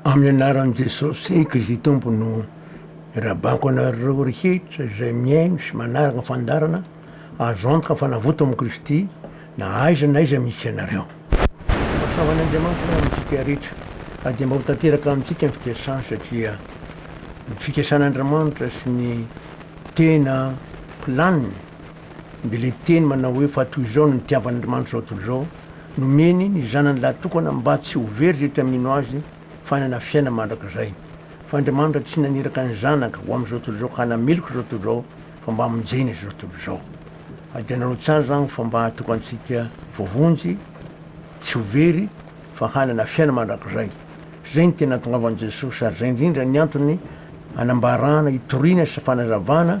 Amin'ny anaran'i Jesosy Kristy Tompo no irahabako anareo rehetra izay mihaino sy manaraka ny fandaharana, azo antoka fa navoto amin'i Kristy na aiza na aiza misy ianareo. Mahasoava an'Andriamanitra antsika rehetra ka dia mba ho tanteraka amintsika ny fikasany satria ny fikasan'Andramanitra sy ny tena planiny, Dia ilay teny manao hoe fa toy izao no nitiavan'Andriamanitra izao tontolo izao, nomeny ny Zanany lahatokana mba tsy ho very rehetra mino Azy fa hanana fiainana mandrakizay. Fa Andriamanitra tsy naniraka ny Zanaka ho amin'izao tontolo izao ka hanameloka izao tontolo izao fa mba hamonjena izao tontolo izao. Ary dia nanao tsara izany fa mba hahatoka antsika voavonjy tsy ho very fa hanana fiainana mandrakizay. Izay no tena antongavany Jesosy ary izay indrindra ny antony anambarana, itoriana sy fanazavana,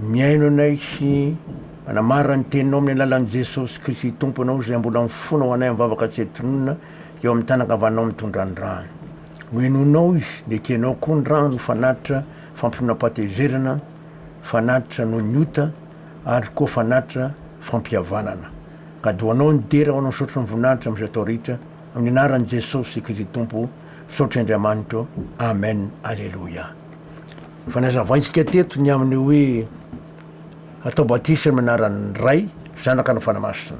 Mihaino anay sy manamarina ny teninao amin'ny alalan'i Jesosy Kristy Tomponao izay mbola mifono ho anay amin'ny vavaka tsy antonona eo amin'ny tanankavanao mitondra ny rany. Nohenoinao izy, nekenao koa ny rano ho fanatitra fampinonoam-pahatezerana, fanatitra noho ny ota ary koa fanatitra fampihavanana. Gadoanao ny dera ho anao Misaotra ny Voninahitra amin'izay atao rehetra amin'ny anaran'i Jesosy Kristy Tompo Misaotra Andriamanitra ô Amen Aleloia. Efa nazavaintsika teto ny amin'ny hoe atao batisa amin'ny anaran'ny Ray, Zanaka ary ny Fanahy Masina.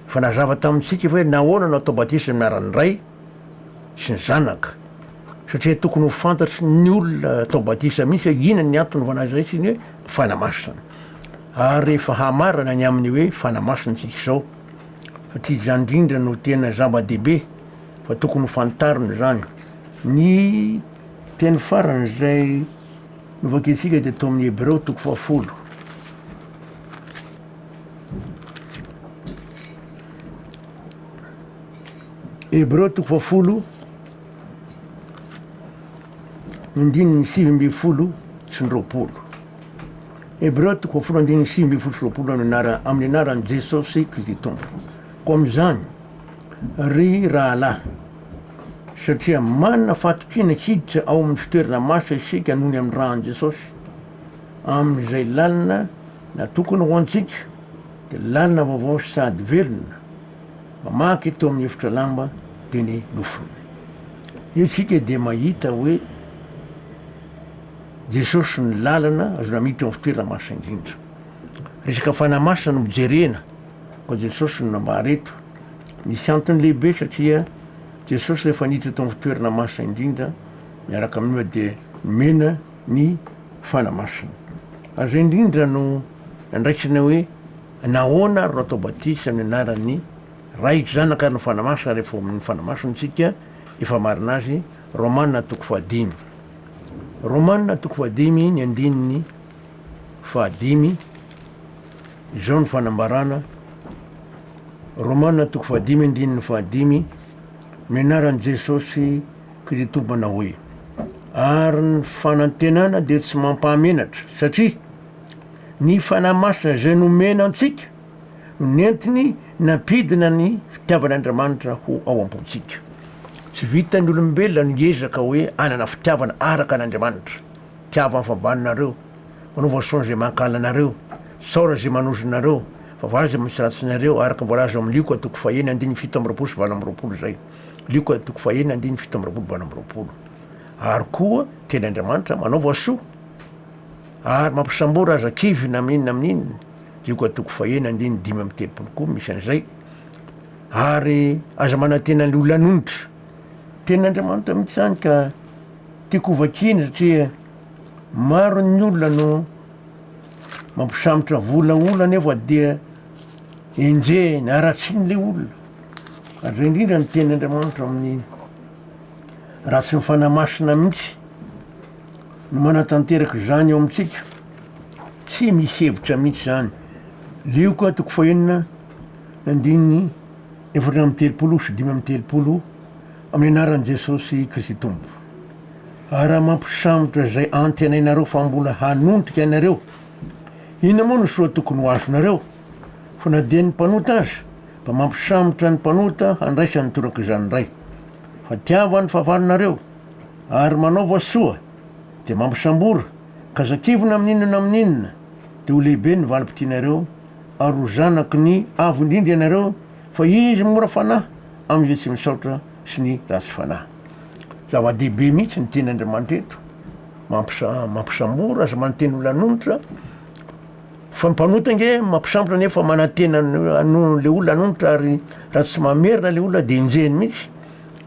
Efa nazava tamintsika efa hoe nahoana no atao batisa amin'ny anaran'ny Ray sy ny Zanaka, satria tokony ho fantatry ny olona atao batisa mihitsy hoe inona ny antony fanazaintsika ny hoe Fanahy Masina. Ary efa hamarana ny amin'ny hoe Fanahy Masina isika izao, satria izany indrindra no tena zava-dehibe fa tokony ho fantarina izany. Ny. Teny farany izay novakiantsika dia tao amin'ny Hebreo toko fahafolo. Hebreo toko fahafolo, andininy sivy ambin'ny folo sy ny roapolo. Hebreo toko fahafolo andininy sivy ambin'ny folo sy roapolo amin'ny anaran'i Jesosy Kristy Tompo. Koa amin'izany, ry rahalahy, Satria manana fahatokiana hiditra ao amin'ny fitoerana maso isika noho ny amin'ny ran'i Jesosy, amin'izay lalina natokana ho antsika dia lalina vaovao sady velona mamaky teo amin'ny efitra lamba dia ny nofony. Isika dia mahita hoe Jesosy no lalana azona miditra ao amin'ny fitoerana maso indrindra. Resaka fanahy masina no jerena. Fa Jesosy no nambara eto. Nisy antony lehibe satria Jesosy rehefa niditra tao amin'ny fitoerana masina indrindra miaraka amin'ny Ora dia nomena ny fanahy masina. Ary izay indrindra no nandraisana hoe nahoana ary no atao batisa amin'ny anaran'ny Ray, Zanaka ary ny fanahy masina rehefa ao amin'ny fanahy masina isika efa marina azy, Romana toko fahadimy. Romana toko fahadimy ny andininy. fahadimy, izao no fanambarana, Romana toko fahadimy andininy fahadimy, ny anaran'i Jesosy Kritompana hoe, ary ny fanantenana dia tsy mampahamenatra, satria ny Fanahy Masina izay nomena antsika no nentiny nampidina ny fitiavan'Andriamanitra ho ao am-pontsika. Tsy vitan'ny olombelona ny hiezaka hoe hanana fitiavana araka an'Andriamanitra. Tiavo afabanareo, manaova son zay mankala anareo, saora zay manozona nareo, vavara zay matsiratsy nareo, araka voalaza ao amin'ny Lioka toko fahenina andininy fito amby roapolo sy valo amby roapolo izay. Lioka toko fahenina andininy fito amby roapolo valo amby roapolo. Ary koa teny Andriamanitra manaova soa ary mampisambory aza kivy na amin'inona amin'inona, Lioka toko fahenina andininy dimy amby telopolo koa misy an'izay, ary aza manantena ny olona anonitra, tenin'Andriamanitra mihitsy izany ka. Tiako hovakiany satria maro ny olona no mampisambotra vola olona nefa dia enjehiny, haratsiny ilay olona. Ary izay indrindra ny teny Andriamanitra amin'ny raha tsy ny fanahy masina mihitsy no manatanteraka izany eo amintsika. Tsy misy hevitra mihitsy izany. Lioka toko fahenina, andininy efatra amby telopolo sy dimy amby telopolo. Amin'ny anaran'i Jesosy Kristy Tompo. Ary raha mampisambotra izay antenainareo fa mbola hanondrika anareo, inona moa no soa tokony ho azonareo? Fa na dia ny mpanota aza, mba mampisambotra ny mpanota handraisany toraka izany indray. Fa tiava ny fahavalonareo, ary manaova soa, dia mampisambora, ka aza kivina amin'inona na amin'inona, dia ho lehibe ny valim-pitianareo, ary ho zanaky ny Avo Indrindra ianareo, Fa izy mora fanahy amin'izay tsy misaotra sy ny ratsy fanahy. Zava-dehibe mihitsy ny tenin'Andriamanitra eto, mampisa, mampisamora sy manantena olona hanonitra, fa ny mpanota ange mampisambotra nefa manantena an'ilay olona hanonitra ary raha tsy mamerina ilay olona dia enjehiny mihitsy.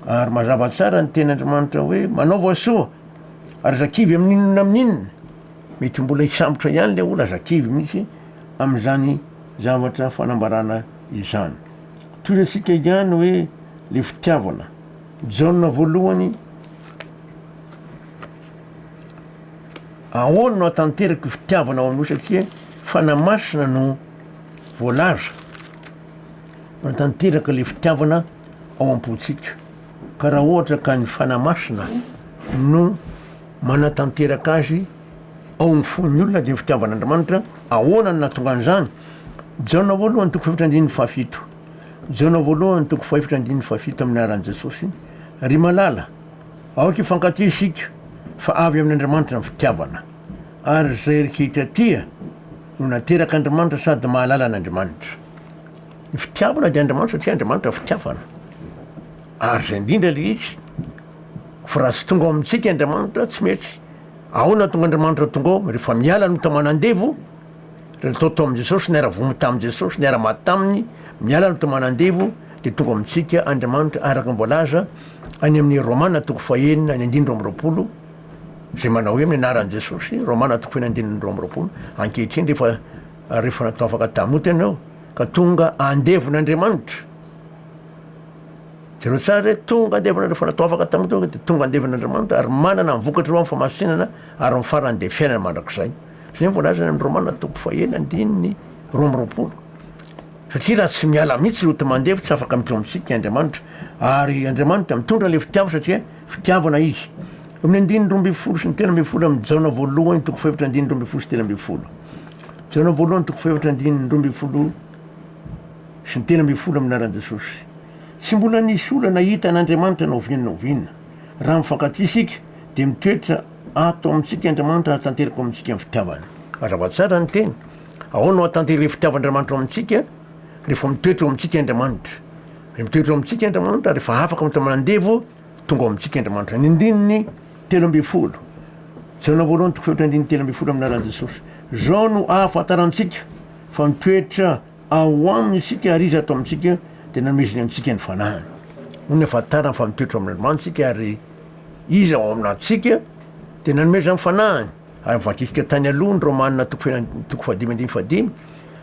Ary mazava tsara ny tenin'Andriamanitra hoe manaova soa ary aza kivy amin'inona na amin'inona. Mety mbola hisambotra ihany ilay olona, aza kivy mihitsy amin'izany zavatra fanambarana izany. Tohizatsika ihany hoe le fitiavana. Jaona voalohany, ahoana no hatanterako fitiavana ao aminao satria fanahy masina no voalaza manatanteraka le fitiavana ao am-pontsika. Ka raha ohatra ka ny fanahy masina no manatanteraka azy ao amin'ny fon'ny olona dia ny fitiavan'Andriamanitra, ahoana no nahatonga an'izany? Jaona voalohany toko fahefatra andininy fahafito, Jaona voalohany toko fahefatra andininy fahafito amin'ny anaran'i Jesosy, Ry malala, aoka hifankatia isika, fa avy amin'Andriamanitra ny fitiavana, ary izay rehetra tia no naterak'Andriamanitra sady mahalala an'Andriamanitra. Ny fitiavana dia Andriamanitra satria Andriamanitra fitiavana, ary izay indrindra ilay izy. Fa raha tsy tonga ao amintsika Andriamanitra, tsy mety. Ahoana hahatonga Andriamanitra tonga ao? Rehefa miala ny tao manandevo, ireo natao tao amin'i Jesosy, niara-vomy tamin'i Jesosy, niara-maty taminy, miala ny tao manandevo, dia tonga ao amintsika Andriamanitra, araka ny voalaza any amin'ny Romana toko fahenina ny andininy roa amby roapolo, izay manao hoe amin'ny anaran'i Jesosy, Romana toko fahenina andininy roa amby roapolo, ankehitriny rehefa, rehefa natao afaka tamin'ny ota ianao, ka tonga andevon'Andriamanitra. Jereo tsara re, tonga andevana ireo fanatoavaka tamin'ny tonga dia tonga andevana Andriamanitra ary manana ny vokatra eo amin'ny famasinana ary ny farany dia fiainana mandrakizay. Izay no voalaza any amin'ny Romana toko fahaenina andininy roa amby roapolo. Satria raha tsy miala mihitsy loto mandeha fa tsy afaka midroa amintsika i Andriamanitra ary Andriamanitra mitondra ilay fitiavana satria fitiavana Izy. Eo amin'ny andininy roa ambin'ny folo sy ny telo ambin'ny folo amin'ny Jaona voalohany toko fahefatra andininy roa ambin'ny folo sy telo ambin'ny folo. Jaona voalohany toko fahefatra andininy roa ambin'ny folo sy ny telo ambin'ny folo amin'ny anaran'i Jesosy. Tsy mbola nisy olana hita an'Andriamanitra na oviana na oviana. Raha mifankatia isika, dia mitoetra ato amintsika Andriamanitra ary tanteraka ao amintsika ny fitiavany. Mazava tsara ny teny. Ahoana no ahatanteran'ny fitiavan'Andriamanitra ao amintsika? Rehefa mitoetra ao amintsika Andriamanitra. Raha mitoetra ao amintsika Andriamanitra, rehefa afaka mitomany andevo, tonga ao amintsika Andriamanitra. Ny andininy telo ambin'ny folo. Jaona voalohany toko fahefatra andininy telo ambin'ny folo amin'ny anaran'i Jesosy. Izao no ahafantarantsika fa mitoetra Ao Aminy isika ary Izy ato amintsika, dia nameziny antsika ny Fanahiny. Nony ahafantarany fa mitoetra ao amin'Andriamanitra isika ary Izy ao aminantsika, dia nanomezany ny Fanahiny. Ary novakiantsika tany aloha ny Romana toko fahina toko fahadimy andininy fahadimy,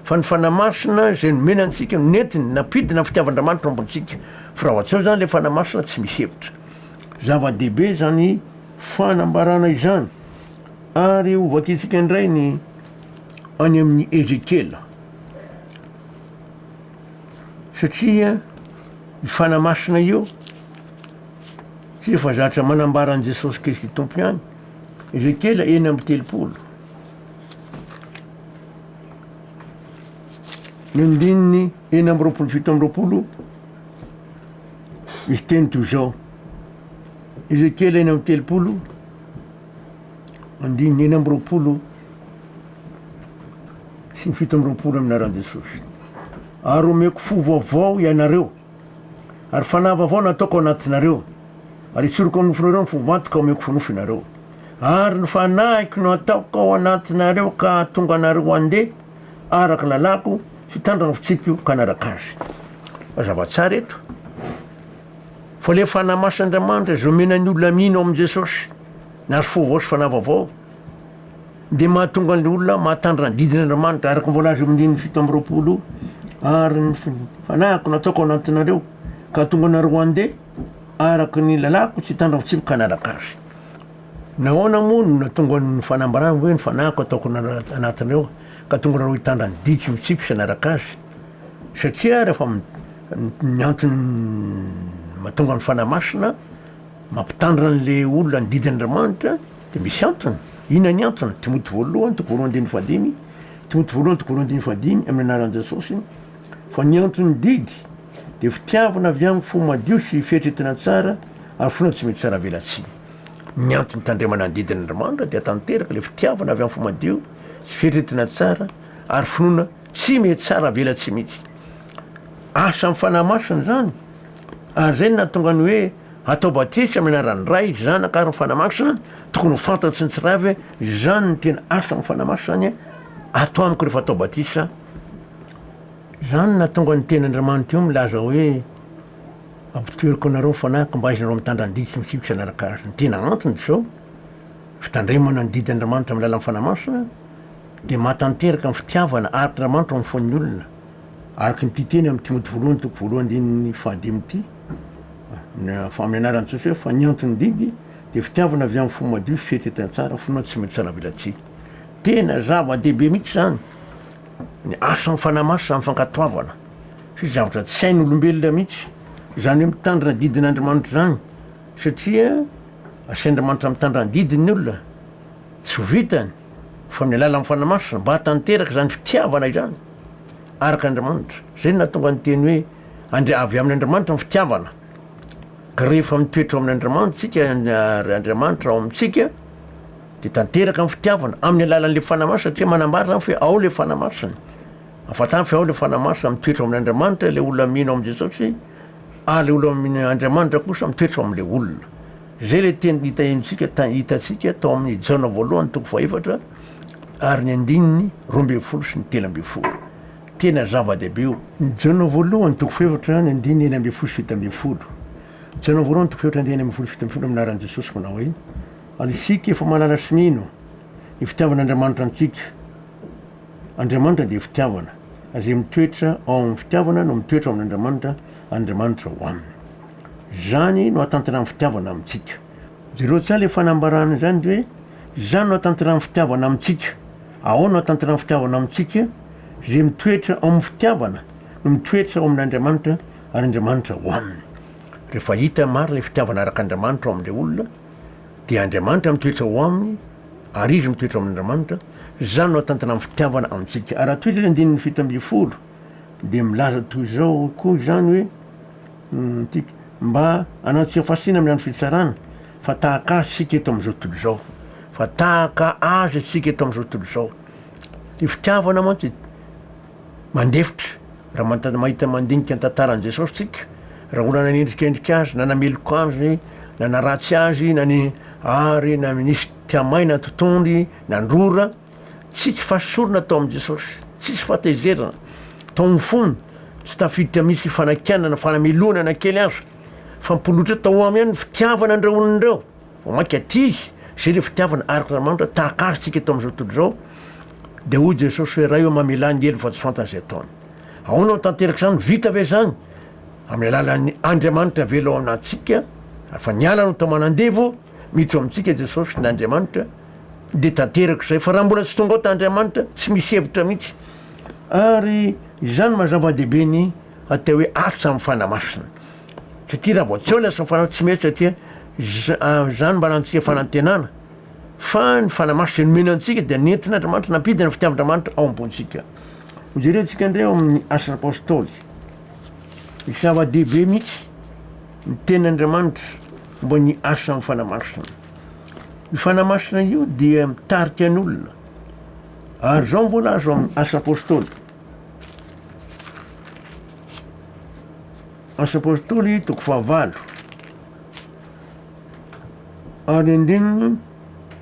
fa ny Fanahy Masina izay nomena antsika no nentiny nampidina ny fitiavan-dRamanitra ao am-pontsika. Firavan-tsaho izany ilay Fanahy Masina tsy misy hevitra. Zava-dehibe izany fanambarana izany. Ary hovakiantsika indray ny any amin'i Ezekiela. Satria io Fanahy Masina io tsy efa zatra manambara an'i Jesosy Kristy Tompo ihany, Ezekiela enina amby telopolo. Ny andininy enina amby roapolo fito amby roapolo, misy teny toy izao, Ezekiela enina amby telopolo, andininy enina amby roapolo sy ny fito amby roapolo amin'ny anaran'i Jesosy. Ary omeko fo vaovao ianareo, ary fanahy vaovao nataoko anatinareo, ary itsoriko amin'ny nofonareo ny fo vantoka omeko fo nofo ianareo. Ary ny fanahiko no ataoko ao anatinareo ka hahatonga anareo handeha araka ny lalàko sy hitandrina ny fitsipiko ka hanaraka azy. Mazava tsara eto. Fa ilay Fanahy Masina Andriamanitra izay omena ny olona mino amin'i Jesosy ny azo fovao sy fanahy vaovao dia mahatonga ny olona mahatandrina ny didin' Andriamanitra araka ny voalaza eo amin'ny fito amby roapolo ary ny fanahiko nataoko anatinareo ka hatonga anareo handeha araka ny lalàko tsy hitandrina fitsipika hanaraka azy. Nahoana moa no natonga ny fanambarany hoe ny fanahiko ataoko anatinareo ka hatonga anareo hitandrina ny didiko mitsipika hanaraka azy? Satria rehefa ny antony mahatonga ny Fanahy Masina mampitandrina an'ilay olona ny didy Andriamanitra dia misy antony. Inona ny antony? Timoty voalohany toko roa andininy fahadimy, Timoty voalohany toko roa andininy fahadimy, amin'ny anaran'i Jesosy, fa ny anton'ny didy dia fitiavana avy amin'ny fo madio sy fieritreretana tsara ary finoana tsy mety saravelatsihy. Ny antony hitandremana ny didin' Andriamanitra dia tanteraka ilay fitiavana avy amin'ny fo madio sy fieritreretana tsara ary finoana Tsy mety tsara velatsihy mihitsy. Asa amin'ny Fanahy Masina izany. Ary izay no nahatonga ny hoe atao batisa amin'ny anaran'ny Ray, Zanaka ary ny Fanahy Masina, tokony ho fantatry ny tsirairay ve izany ny tena asa amin'ny Fanahy Masina izany atao amiko rehefa atao batisa. Izany no nahatonga ny Tenin'Andriamanitra io milaza hoe Ampoteriko anareo ny Fanahiko mba hahaizanareo mitandrina ny didy sy mitsiky sy hanaraka Azy. Ny tena antony dia izao, fitandremana ny didin'Andriamanitra amin'ny alalan'ny Fanahy Masina, dia mahatanteraka ny fitiavana araka Andriamanitra ao amin'ny fon'ny olona, araka ny tia teny amin'ny Timoty voalohany toko voalohany andininy fahadimy ity, amin'ny anaran'i Jesosy hoe, fa ny anton'ny didy dia fitiavana avy amin'ny fo madio sy fihetsetany tsara, finoana tsy mety salavelatsihy. Tena zava-dehibe mihitsy izany ny asan'ny Fanahy Masina amin'ny fankatoavana, satria zavatra tsy hain'olombelona mihitsy izany hoe mitandrina ny didin'Andriamanitra izany, satria asian'Andriamanitra mitandrina ny didiny ny olona, tsy ho vitany. fa amin'ny alalan'ny Fanahy Masina, mba hahatanteraka izany fitiavana izany araka Andriamanitra. Izay no nahatonga ny teny hoe Andri- avy amin' Andriamanitra ny fitiavana. Ka rehefa mitoetra ao amin' Andriamanitra isika ary Andriamanitra ao amintsika, dia tanteraka ny fitiavana amin'ny alalan'ilay Fanahy Masina, satria manambara izany fa hoe ao ilay Fanahy Masina. Ahafantaro fa ao ilay Fanahy Masina, mitoetra ao amin' Andriamanitra ilay olona mino amin'i Jesosy, ary ilay olona mino Andriamanitra kosa mitoetra ao amin'ilay olona. Izay ilay teny nitahiantsika, hitantsika tao amin'ny Jaona voalohany toko fahefatra ary ny andininy roa ambin'ny folo sy ny telo ambin'ny folo. Tena zava-dehibe io. Jaona voalohany toko fahefatra, ny andininy enina ambin'ny folo sy fito ambin'ny folo. Jaona voalohany toko fahefatra, andininy enina ambin'ny folo sy fito ambin'ny folo amin'ny anaran'i Jesosy manao hoe, Ary isika efa mahalala sy mino ny fitiavan'Andriamanitra antsika. Andriamanitra dia fitiavana. Izay mitoetra ao amin'ny fitiavana no mitoetra ao amin'Andriamanitra, Andriamanitra ao aminy. Izany no ahatanterahan'ny fitiavana amintsika. Jereo tsara ilay fanambarana izany dia hoe izany no ahatanterahan'ny fitiavana amintsika. Ahoana no ahatanterahan'ny fitiavana amintsika? Izay mitoetra ao amin'ny fitiavana no mitoetra ao amin'Andriamanitra ary Andriamanitra ao aminy. Rehefa hita marina ilay fitiavana araka Andriamanitra ao amin'ilay olona dia Andriamanitra mitoetra ao aminy ary izy mitoetra ao amin'Andriamanitra, izany no ahatanterahan'ny fitiavana amintsika. Ary raha toetra ny andininy fito ambin'ny folo dia milaza toy izao koa izany hoe. Mpitsikilo an-tsikafo. Mba hanao antsika fasina amin'ny andro fitsarana, fa tahaka Azy isika eto amin'izao tontolo izao. Fa tahaka Azy isika eto amin'izao tontolo izao. Ny fitiavana mantsy mandefitra, raha manta- mahita mandinika ny tantaran'i Jesosy tsika, raha olona nanendrikendrika Azy, na nameloka Azy, na naratsy Azy, na ny- ary na nisy tia-maina totohondry nandrora, Tsisy fahasorona tao amin'i Jesosy, tsisy fahatezerana tao amin'ny fony, tsy tafiditra mihitsy ny fanakianana na fanamelohana na kely aza. Fampoloitra tao aminy ihany ny fitiavana an'ireo olona ireo. Vao mainka aty izy, izay ilay fitiavana araka an'Andriamanitra, tahaka azy tsika eto amin'izao tontolo izao. Dia hoy Jesosy hoe, Ray ô, mamelà ny helony fa tsy fantany izay ataony. Ahoana no tanteraka izany? Vita ve izany? Amin'ny alalan'ny Andriamanitra avela ao amintsika, ary fa niala no tao aman'andevo, miditra ao amintsika Jesosy, ny Andriamanitra, Dia tanteraka izay fa raha mbola tsy tonga ao ta Andriamanitra tsy misy hevitra mihitsy ary izany maha zava-dehibe ny atao hoe arts amin'ny fanahy masina satria raha vao tsy ao lasa fanahy tsy mety satria izany mba anantsika fanantenana fa ny fanahy masina izay nomena antsika dia nentin'Andriamanitra nampidina fitiavan-dRamanitra ao am-pontsika hojerentsika indray ao amin'ny asa apostoly zava-dehibe mihitsy ny tenin'Andriamanitra momba ny asa amin'ny fanahy masina Io fanahymasina io dia mitarika ny olona ary izao mbola azo amin'ny asa apôstôly. Asa apôstôly toko fahavalo ary andininy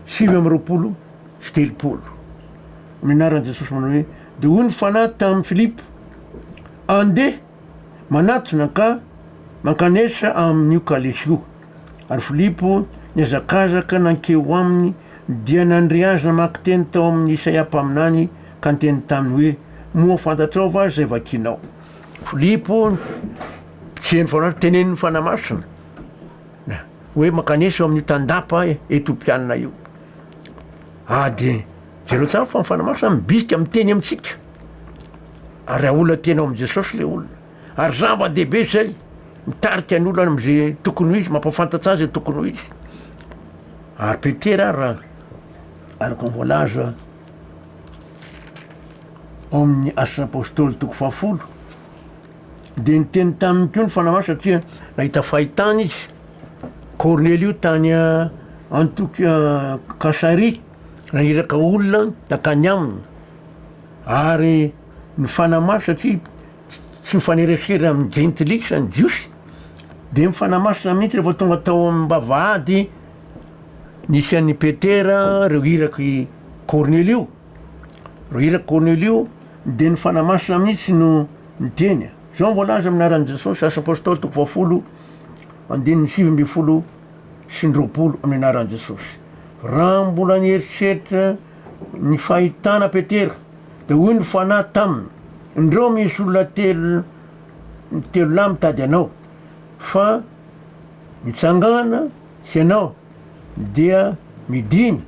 sivy amin'ny roapolo sy telopolo. Ny anaran'i Jesosy manao hoe dia hoy ny fanahy tamin'i Filipo, andeha Manatona ka mankanesa amin'io kalesy io. Ary Filipo nihazakazaka nankeo ho aminy, dia nandre azy namaky teny tao amin'ny Isaia mpaminany, ka niteny taminy hoe, Moa fantatrao va izay vakinao? Filipo, mpitseny fanahy, tenenin'ny Fanahy Masina hoe, Mankanesa eo amin'io tandapa Etiopiana io. Ary dia jereo tsara fa ny Fanahy Masina mibisika miteny amintsika. Ary haolana tena ao amin'i Jesosy ilay olona. Ary zava-dehibe izay, mitarika ny olona amin'izay tokony ho izy, mampahafantatra azy izay tokony ho izy. Ary Petera ary raha araka ny voalaza ao amin'ny asan'ny apôstôly toko fahafolo dia niteny taminy koa ny fanahy masina satria nahita fahitana izy kornelio tany antoky kasaria naniraka olona nakany aminy Ary mifanamafy satria tsy mifanerasera amin'ny jentilisa ny Jiosy, dia mifanamafy mihitsy rehefa tonga tao amin'ny vavahady nisy an'i Petera ireo irak'i Kornelio, ireo irak'i Kornelio dia nifanamafy mihitsy no niteny. Izao no voalaza amin'ny anaran'i Jesosy, Asa Apôstôly toko fahafolo andininy sivy ambin'ny folo sy ny roapolo, amin'ny anaran'i Jesosy. Raha mbola nieritreritra Ny fahitana Petera, dia hoy ny Fanahy taminy, Indreo misy olona telo telo lahy mitady anao, fa mitsangàna hianao, dia midìna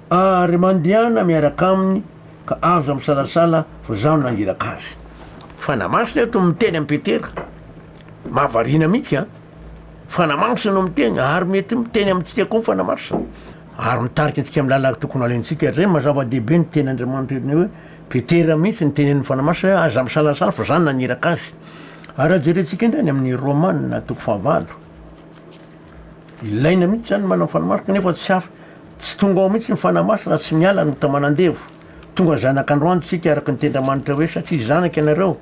ary mandehana miaraka aminy, ka aza misalasala fa izaho no nangiraka azy. Fanahy Masina eto miteny amin'i Petera, mahavariana mihitsy an! Fanahy Masina no miteny, ary mety miteny amintsika koa ny Fanahy Masina. Ary mitarika antsika amin'ny lalana tokony halaintsika hatr'izay. Mazava dehibe ny teny Andriamanitra eto ny hoe Petera mihitsy no tenenin'ny Fanahy Masina hoe aza misalasala fa za naniraka azy. Ary raha jerentsika indray any amin'ny Romana toko fahavalo, ilaina mihitsy zany ny manana ny Fanahy Masina kanefa tsy af- tsy tonga ao mihitsy ny Fanahy Masina raha tsy miala ny taman'andevo. Tonga zanak'androany tsika araka ny tenin'Andriamanitra hoe satria zanaka ianareo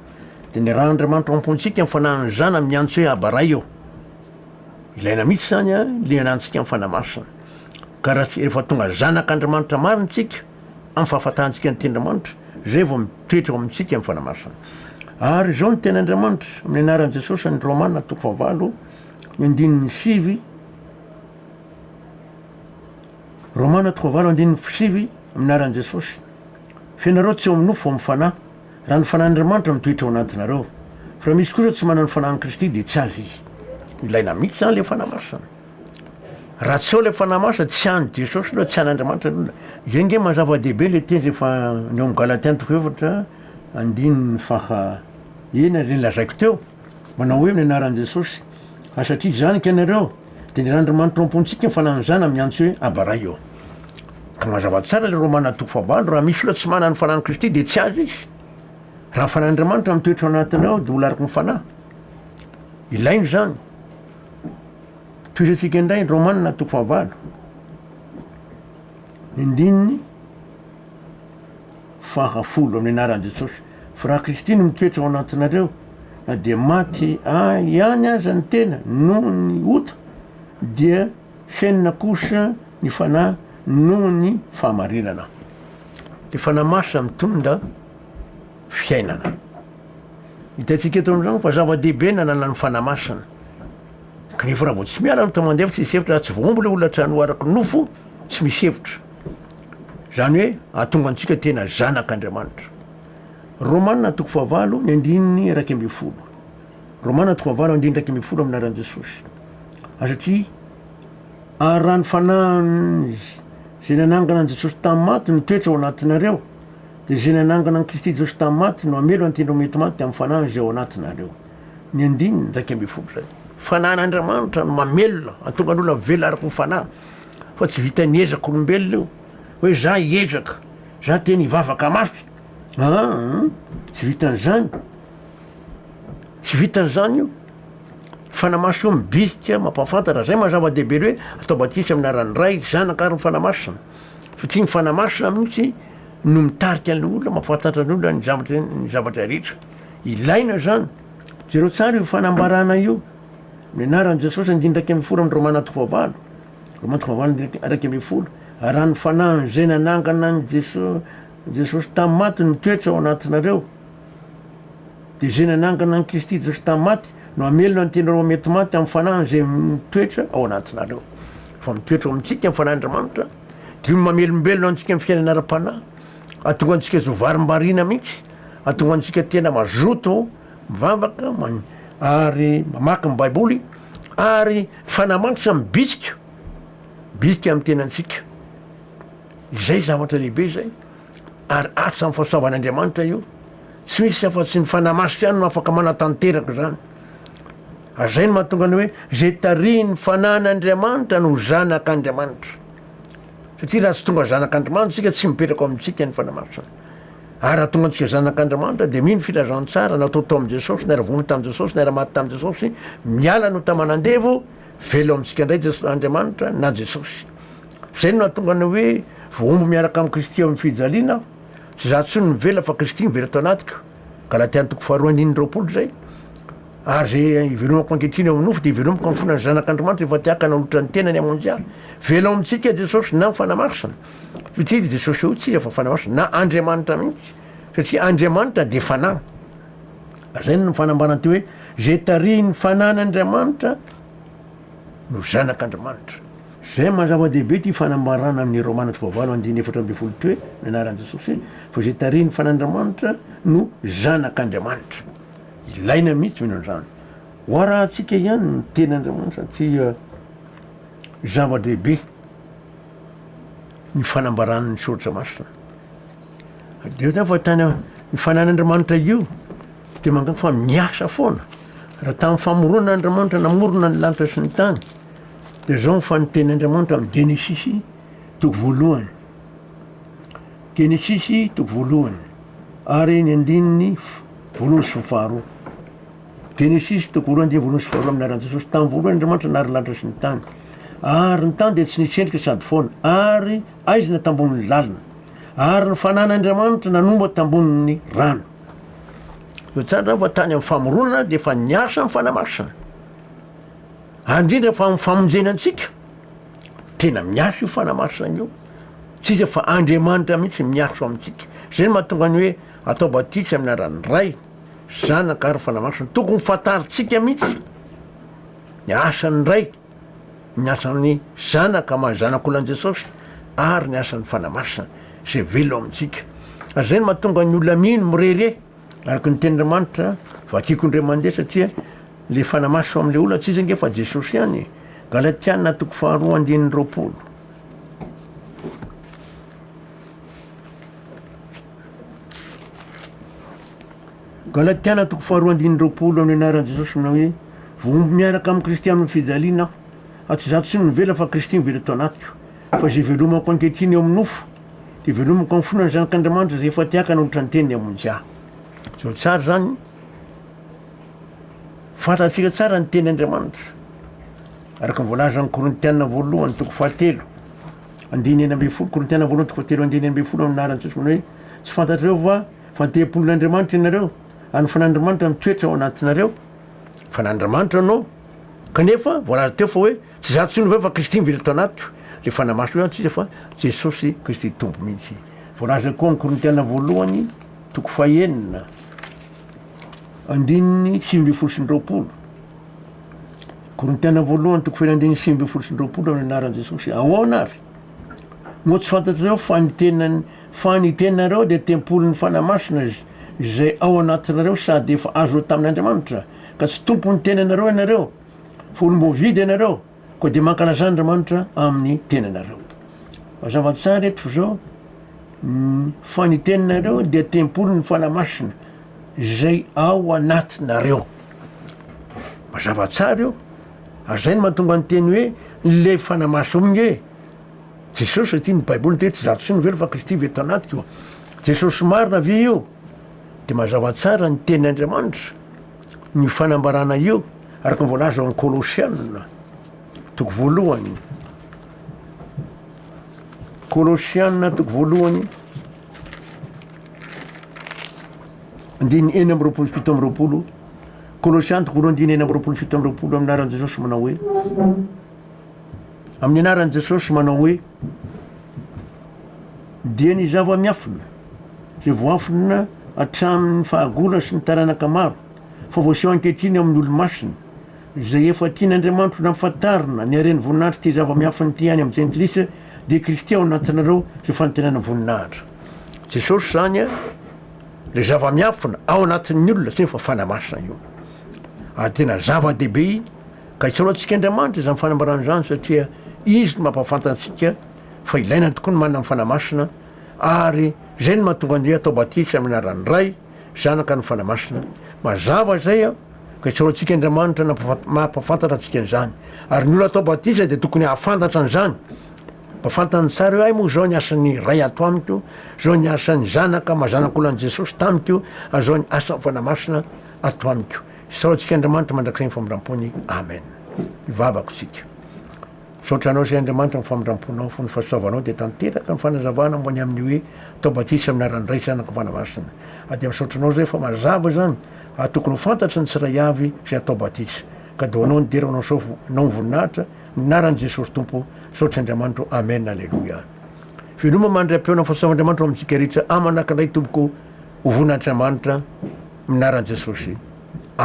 de ny rà Andriamanitra ao am-pontsika ny Fanahin'ny Zanany miantso hoe Aba Ray ô. Ilaina mihitsy izany a, liana antsika amin'ny Fanahy Masina. Ka raha tsy rehefa tonga zanak' Andriamanitra marina isika, amin'ny fahafantarantsika ny Tenin'Andriamanitra, izay vao mitoetra ao amintsika ny Fanahy Masina. Ary izao ny teny Andriamanitra, amin'ny anaran'i Jesosy, any Romana toko fahavalo, ny andininy sivy, Romana toko fahavalo andininy sivy, amin'ny anaran'i Jesosy, Fa ianareo tsy ao amin'ny nofo fa ao amin'ny Fanahy. Raha ny Fanahin'Andriamanitra mitoetra ao anatinareo, fa raha misy kosa tsy manana ny Fanahin'i Kristy dia tsy azy izy. Ilaina mihitsy izany ilay Fanahy Masina. Raha tsy ao ilay Fanahy Masina, tsy an'i Jesosy aloha, tsy an'Andriamanitra ny olona. Izay ange mazava dehibe ilay teny rehefa ny ao amin'ny Galatiana toko efatra andininy faha enina, izay nolazaiko teo. Manao hoe ny anaran'i Jesosy. Ary satria izany ka ianareo, dia ny Randrimanitra ao am-pontsika ny fananan'izany amin'ny antso hoe Aba Ray eo. Ka mazava tsara ilay Romana toko fahavalo, raha misy olona tsy manana ny fananan'i Kristy dia tsy azy izy. Raha ny fanan'Andriamanitra no mitoetra ao anatiny ao dia ho lariky ny fanahy. Ilaina izany. Tohizantsika indray ny Romana toko fahavalo. Ny andininy fahafolo amin'ny anaran'i Jesosy. F'raha Kristy-no mitoetra ao anatinareo, na dia maty ahy ihany aza ny tena noho ny ota, dia henona kosa ny Fanahy noho ny fahamarinana. Ny Fanahy Masina mitondra fiainana. Hitantsika eto amin'izany fa zava-dehibe ny ananan'ny Fanahy Masina. Kanefa raha vao tsy miala no toa mandeha fa tsy misy hevitra, raha tsy voaombo ilay olona hatrany ho araky ny nofo, tsy misy hevitra. Izany hoe hahatonga antsika tena zanak'Andriamanitra. Romana toko fahavalo ny andininy iraika ambin'ny folo. Romana toko fahavalo andininy iraika ambin'ny folo amin'ny anaran'i Jesosy. Satria ary raha ny fanahin'ny izay nanangana an'i Jesosy tamin'ny maty no toetra ao anatinareo, dia izay nanangana an'i Kristy Jesosy tamin'ny maty no hamelo an'ity ireo mety maty amin'ny fanahiny izay ao anatinareo. Ny andininy iraika ambin'ny folo izay. Fanahin'Andriamanitra no mamelona, hahatonga ny olona velona araka ny fanahy. fa tsy vitan'ny ezak'olombelona io hoe za hiezaka za tena hivavaka mafy aa tsy vitan'izany tsy vitan'izany io fanamaso io mibisika mampafantatra zay mazava-dehibe le hoe atao batisa amin'ny anaran'ny ray ny zanaka ary ny fanahy masina satria ny fanahy masina mihitsy no mitarika ny olona mampafantatra ny olona ny zavatra ny zavatra rehetra ilaina zany jereo tsara io fanambarana io Ny anaran'i Jesosy andiniraika ambin'ny folo amin'ny Romana toko fahavalo, Romana toko fahavalo andininy iraika ambin'ny folo, raha ny fanahin'izay nanangana an'i Jesosy, Jesosy tamin'ny maty no mitoetra ao anatinareo, dia izay nanangana an'i Kristy Jesosy tamin'ny maty no hamelona ny tenareo mety maty amin'ny fanahiny izay mitoetra ao anatinareo. Fa mitoetra ao amintsika ny fanahin'Andriamanitra, dia io mamelombelona antsika amin'ny fiainana ara-panahy, hahatonga antsika zo varimbariana mihitsy, hahatonga antsika tena mazoto, mivavaka, man, ary mamaky ny Baiboly, ary fanamanitra mibitsika, bitsika amin'ny tenantsika. Izay zavatra lehibe izay, ary atra amin'ny fahasoavan'Andriamanitra io. Tsy misy afa-tsy ny Fanahy Masina ihany no afaka manatanteraka izany. Ary izay no mahatonga ny hoe, izay tarihin'ny Fanahin'Andriamanitra no zanak'Andriamanitra. Satria raha tsy tonga zanak'Andrimanitra isika, tsy mipetraka ao amintsika ny Fanahy Masina. Ary raha tonga antsika zanak' Andriamanitra dia mino filazantsara natao tao amin'i Jesosy, naira vono tamin'i Jesosy, naira maty tamin'i Jesosy, miala no taman'andevo, velona amintsika indray Jesosy, Andriamanitra na Jesosy. Zay no nahatonga ny hoe voahombo miaraka amin'i Kristy eo amin'ny fijaliana aho. Tsy za tsony no mivela fa Kristy mivela tao anatiko. Galatia ny toko faharoa andininy roapolo zay. Ary ze ivelomako ankehitriny eo amin'ny nofo dia ivelomako amin'ny fona ny Zanak'Andriamanitra efa te haka nanolotra ny tenany hamonjy ahy. Velona ao amintsika Jesosy na ny Fanahy Masina. Hoy tena i Jesosy hoe, Tsia, fa fanahy hoson, na Andriamanitra mihitsy, satria Andriamanitra dia fanahy. Ary izay no nifanambaran' ity hoe, Izay tarihin' ny Fanahin' Andriamanitra no zanak' Andriamanitra. Izay no maha zava-dehibe ity fanambarana amin' ny Romana Toko fahavalo andininy efatra ambin'ny folo ity hoe, ny anaran' Jesosy hoe, Fa izay tarihin' ny Fanahin' Andriamanitra no zanak' Andriamanitra. Ilaina mihitsy mino an' izany. Ho arahantsika ihany ny tenin' Andriamanitra ity zava-dehibe. ny fanambarany ny soratra masina. Dia zany fa tany ny fanan'Andriamanitra io dia mangana fa miasa foana. Raha tamin'ny famoronana Andriamanitra namorona ny lanitra sy ny tany, dia zao ny fanoteny Andriamanitra amin'ny Genesisy toko voalohany. Genesisy toko voalohany ary ny andininy voalohany sy faharoa. Genesisy, toko roa andiam-bolony sy faharoa amin'ny anaran'i Jesosy. Tamin'ny voalohany Andriamanitra nahary ny lanitra sy ny tany. Ary ny tany dia tsy nisy endrika sady foana, ary haizina tambonin'ny lalina. Ary ny fanahin' Andriamanitra nanomboka tambonin'ny rano. Eo tsara izany fa tany amin'ny famoronana dia efa niasa ny fanamasina. Ary indrindra fa amin'ny famonjena antsika, tena miasa io fanamasina io. Tsy iza fa Andriamanitra mihitsy miasa ao amintsika. Izay no mahatonga ny hoe atao batisa amin'ny anaran'ny Ray, Zanaka ary fanamasina. Tokony fantarintsika mihitsy ny asan'ny Ray, ny asan'ny Zanaka maha Zanak'olona an'i Jesosy ary ny asan'ny Fanahy Masina izay velona ao amintsika. Ary izay no mahatonga ny olona mino mirehireh araka ny Tenin'Andriamanitra vakiko indray mandeha satria le Fanahy Masina ao amin'ilay olona tsy iza ange fa Jesosy ihany e. Galatiana toko faharoa andininy roapolo. Galatiana toko faharoa andininy roapolo amin'ny anaran'i Jesosy manao hoe voahomby miaraka amin'i Kristy amin'ny fijaliana aho, fa tsy izaho tsy no mivela fa Kristy mivela eto anatiko. Fa izay ivelomako ankehitriny eo amin'ny nofo, dia ivelomako amin'ny fonan'ny Zanak'Andriamanitra izay efa te-haka hanolotra ny teniny hamonjy ahy. Izao tsara izany, fantatsika tsara ny tenin'Andriamanitra, araka ny voalazan'ny Korintiana voalohany toko fahatelo. Andininy enina ambin'ny folo, Korintiana voalohany toko fahatelo andininy enina ambin'ny folo, amin'ny anaran'i Jesosy, manao hoe, Tsy fantatrareo va fa ny tempolin'Andriamanitra ianareo, ary ny Fanan'Andriamanitra mitoetra ao anatinareo? Fanan'Andriamanitra anao, kanefa voalaza teo fa hoe, Tsy izaho intsony ve fa Kristy mivily tao anatiko? Dia fanahy masina eo antsika fa Jesosy Kristy Tompo mihitsy. Voalaza koa amin'ny Korintiana voalohany toko fahenina andininy sivy ambin'ny folo sy ny roapolo. Korintiana voalohany toko fahirandiny andininy sivy ambin'ny folo sy roapolo amin'ny anaran'i Jesosy. Ahoana ary? Moa tsy fantatrareo fa ny tenany fa ny tenareo dia tempolin'ny Fanahy Masina izay ao anatinareo sady efa azonao tamin'Andriamanitra, ka tsy tompon'ny tenanareo ianareo, fa olom-boavidy ianareo, koa dia mankalazà Andriamanitra amin'ny tenanareo. Mazava tsara eto izao fa ny tenareo dia tempolin'ny Fanahy Masina. izay ao anatinareo. Mazava tsara io. Ary izay no mahatonga ny teny hoe ny lery fanamaso aminy hoe Jesosy satria ny Baiboly miteny hoe tsy izaho intsony no very fa Kristy very tao anatiko. Jesosy marina ve io? Dia mazava tsara ny teny Andriamanitra no io fanambarana io araka ny voalaza ao amin'ny Kolosiana toko voalohany. Kolosiana toko voalohany. Andininy enina amby roapolo sy fito amby roapolo, Kolosianty voalohany andininy enina amby roapolo sy fito amby roapolo amin'ny anaran'i Jesosy manao hoe amin'ny anaran'i Jesosy manao hoe dia ny zava-miafina izay voafina hatramin'ny fahagola sy ny taranaka maro fa voaseho ankehitriny amin'ny olomasina izay efa tian'Andriamanitra ho nampafantarina ny haren'ny voninahitry ity zava-miafina ity any amin'ny jentilisa Dia criquet ao anatinareo ity fanantenana voninahitra Jesosy izany a, le zava-miafina ao anatin'ny olona zay efa fanahy masina io. Ary tena zava-dehibe ka isaorantsika Andriamanitra izany fanambarana izany satria izy no mampafantantsika fa ilaina tokoa ny manana ny fanahy masina ary zay no mahatonga an'i hoe atao batisa amin'ny anaran'ny Ray, Zanaka ny Fanahy Masina. Mazava izay an! Ka isaory antsika Andriamanitra nampafantatra mampafantatra antsika an'izany. Ary ny olona atao batisa dia tokony hahafantatra an'izany. Mba fantany tsara hoe hay moa izao ny asan'ny Ray ato amiko, izao ny asan'ny Zanaka maha zanak'olan'i Jesosy tamiko, ary izao ny asan'ny Fanahy Masina ato amiko. Isaory antsika Andriamanitra mandrakizay ny famindram-pony. Amen. Ivavako isika. Misaotra anao sy Andriamanitra amin'ny famindramponao fony fa soavanao dia tanteraka ny fanazavana momba ny amin'ny hoe atao batisa amin'ny anaran'ny Ray sy Zanaka sy Fanahy Masina ary dia misaotra anao izay fa mazava izany ary tokony ho fantatry ny tsirairay avy izay atao batisa ka do anao ny dera anao sao nao ny voninahitra ny anaran'i Jesosy Tompo misaotra Andriamanitro Amen Aleloia Veloma mandry ampeona fahasoavan'Andriamanitro amintsika rehetra aman'akindray tompoko ho voninahitry'Amanitra amin'ny anaran'i Jesosy